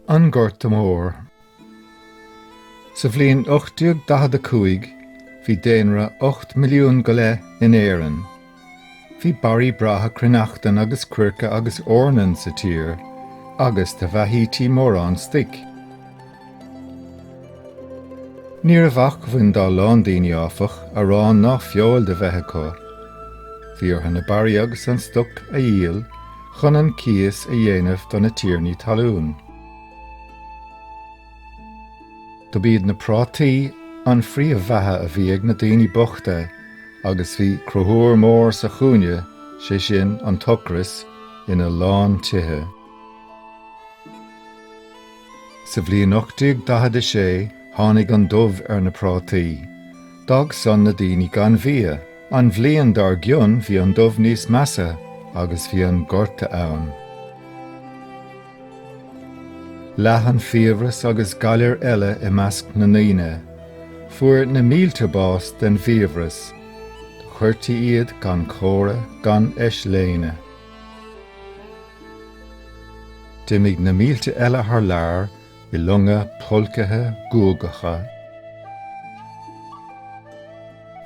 An Gorta Mór. Sa bhliain 1845 bhí daonra ocht milliún go leith in Éirinn. Bhí barraí breátha cruithneachtan agus coirce agus eornan sa tír, agus do bheathaítí mórán stuic. Ní raibh acmhainn dá lán daoine, áfach, arán ná feoil do bheith acu. Bhí orthu na barraí agus an stoc a dhíol chun an cíos a dhéanamh do na tiarnaí talún. Dob iad na prátaí an phríomhbheatha a bhí ag na daoine bochta agus bhí Conchúr Mór sa chúinne, sé sin an t-ocras, ina lán tithe. Sa bhliain 1846 tháinig an dubh ar na prátaí. D'fhág san na daoine gan bhia. An bhliain dár gcionn bhí an dubh níos measa agus bhí an gorta ann. Leath an fiabhras agus galair eile i measc na ndaoine. Fuair na mílte bás den bhfiabhras. Do chuirtí iad gan comhra gan eisléine. D'imigh na mílte eile thar lear i longa pulcaithe guagacha.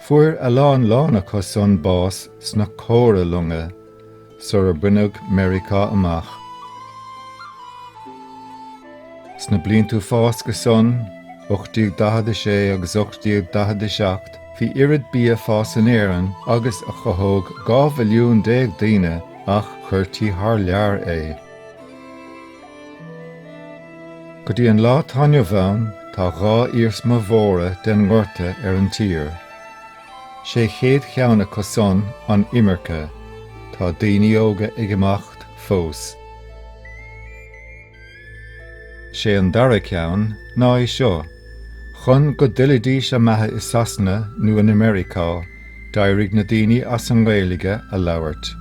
Fuair a lán lán acu san bás sna comhralonga. sar a baineadh Meiriceá amach. Sna bliantaí fásca san, 1846 agus 1847, bhí oiread bia ag fás in Éirinn agus a chothódh dhá mhilliún déag daoine ach chuirtí thar lear é. Go dtí an lá atá inniu ann, tá dhá iarsma mhóra den ngorta ar an tír. Sé an chéad cheann acu san an imirce. Tá daoine óga ag imeacht fós. Sé an dara ceann ná é seo, chun go dtuillfidís a mbeatha i Sasana nó in Ameiriceá d'éirigh na daoine as an nGaeilge a labhairt.